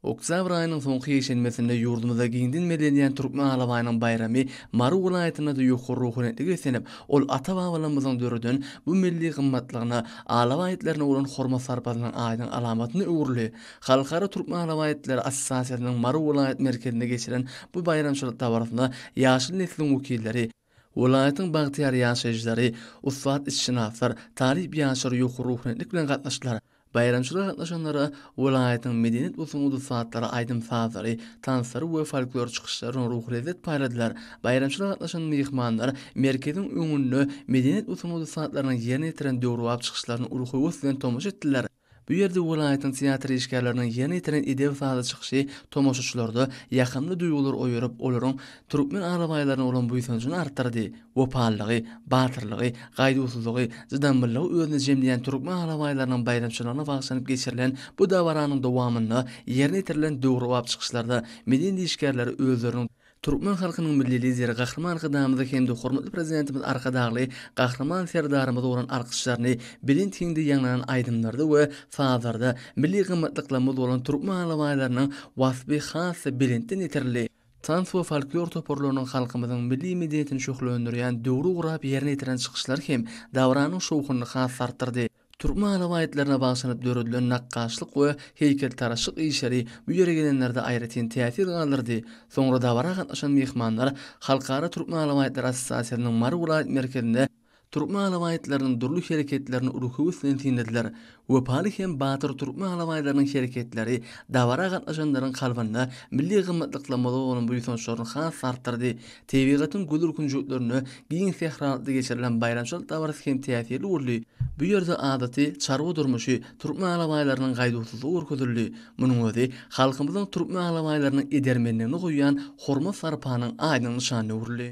Oktýabr aýynyň soňky ýekşenbesinde ýurdumyzda giňden bellenýän Türkmen alabaýynyň baýramy Mary welaýatynda-da ýokary ruhanyýetli beslenip, ol ata-babalarymyzyň döreden bu milli gymmatlygyna, alabaý itlerine bolan hormat-sarpasynyň aýdyň alamatyna öwrüldi. Halkara türkmen alabaý itleri assosiasiýasynyň Mary welaýat merkezinde geçiren bu baýramçylyk dabarasyna ýaşyl nesliň wekilleri, welaýatyň bagtyýar ýaşaýjylary, ussat itşynaslar, talyp ýaşlar ýokary ruhanyýetlik bilen gatnaşdylar. Baýramçylyga gatnaşanlara welaýatyň medeniýet we sungat ussatlary aýdym-sazlary, tanslary we folklor çykyşlary bilen ruhy lezzet paýladylar. Baýramçylyga gatnaşan myhmanlar merkeziň öňünde medeniýet we sungat ussatlarynyň ýerine ýetiren döwrebap çykyşlaryna uly höwes bilen tomaşa etdiler. Bu ýerde welaýatyň teatr işgärleriniň ýerine ýetiren edebi-sazly çykyşy tomaşaçylarda ýakymly duýgulary oýaryp, olaryň türkmen alabaýlaryna bolan buýsanjyny artdyrdy. Wepalylygy, batyrlygy, gaýduwsyzlygy, cydamlylygy özünde jemleýän türkmen alabaýlarynyň baýramçylygyna bagyşlanyp geçirilen bu dabaranyň dowamynda ýerine ýetirilen döwrebap çykyşlarda milli niýişgärler özleriniň Türkmen halkynyň Milli Lideri Gahryman Arkadagymyzy hem-de hormatly Prezidentimiz Arkadagly Gahryman Serdarymyza bolan alkyşlaryny belent hiňde ýaňlanan aýdymlarda we sazlarda milli gymmatlyklarymyz bolan türkmen alabaýlarynyň waspy has-da belentden ýetirildi. Tans we folklor toparlarynyň halkymyzyň milli medeniýetini şöhlendirýän döwri gurap ýerine ýetiren çykyşlary hem dabaranyň şowhunyny has-da artdyrdy. Türkmen alabaýtlaryna bagyşlanyp döredilen nakgaşlyk we heýkeltaraşlyk işleri bu ýere gelenlerde aýratyn täsir galdyrdy. Soňra dabara gatnaşan myhmanlar Halkara türkmen alabaýtlary assosiasiýasynyň Mary welaýat merkezinde, Türkmen alabaýtlarynyň dürli hereketlerini uly höwes bilen synladiler. Wepaly hem batyr türkmen alabaýlarynyň hereketleri dabara gatnaşanlaryň kalbynda milli gymmatlyklarymyza bolan buýsançlaryny has-da artdyrdy. Tebigatyň gözel künjeklerinde giň sähralykda geçirilen baýramçylyk dabarasy hem täsirli boldy. Bu ýerde adaty çarwa durmuşy türkmen alabaýlarynyň gaýduwsyzlygy görkezildi. Munuň özi halkymyzyň türkmen alabaýlaryna edermenligine goýýan hormat-sarpanyň aýdyň nyşanyna öwrüldi.